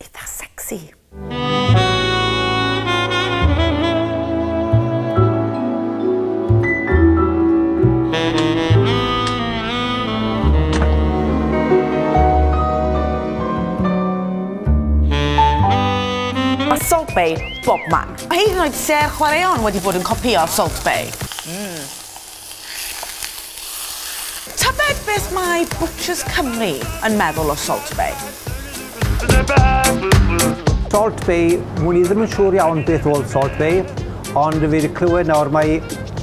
eitha sexy. Bay bobman. Mae hyd yn oed ser chwaraeon wedi bod yn copïo Salt Bay. Mm. Tybed beth mae Butchers Cymru yn meddwl o Salt Bae? Salt Bae, mwn i ddim yn siŵr iawn beth oedd Salt Bae, ond fi wedi clywed nawr mae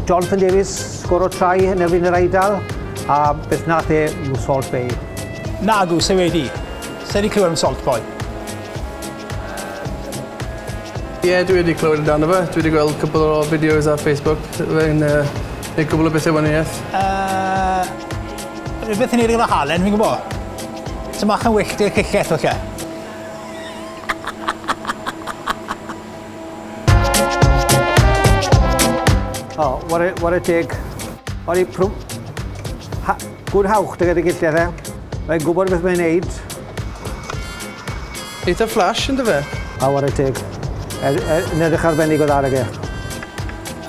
Jonathan Davies sgor o trai yn erbyn yr Eidal, a beth nath e yw Salt Bae. Nagw, se wedi. Se wedi clywed am Salt Bae. Ie, dwi wedi clywed amdano fe. Dwi wedi gweld cwpl o fideos ar Facebook. Fe'n yy neud cwbl o bethe wanieth. Yy rwbeth i neud efo halen fi'n gwbo. Ty' mach yn wyllt i'r ciced falle. O ware ware teg. O'n i prw- ha- gwn hawch dy gad dy giltia fe. Mae'n gwbod beth mae'n neud. Eitha flash yn dy fe? A ware teg. Er, er, yn edrych arbennig o dda ag e.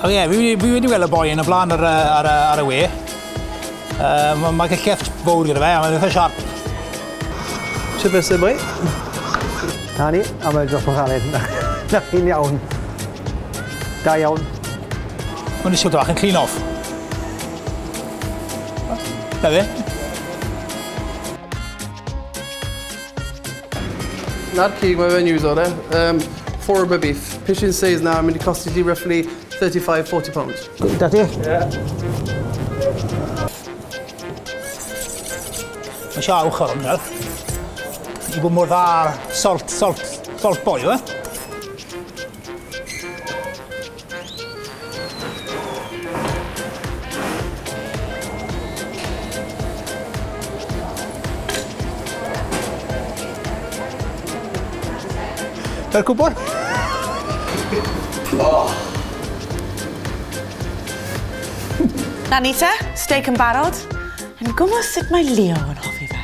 O ie, fi, fi wedi weld y boi yn y blaen ar, ar, ar, ar y we. Uh, Mae'n ma cael llefft fawr gyda fe, a mae'n eitha siarp. Ti'n beth sy'n boi? Na ni, a mae'n dros o'n galed. Na chi'n iawn. Da iawn. Mae'n eisiau dwach yn clean off. Na fe? Na'r cig, mae fe'n iwso fe. Um, for a beef. Pishin says na, mynd i costi ti roughly 35-40 pounds. Da ti? Ie. Mae eisiau awch ar hwnna. I bod mor dda salt, salt, salt boil, eh? Dy'r cwbl? Oh! Na ni te, steak yn barod. Yn gwybod sut mae Leo yn hoffi fe.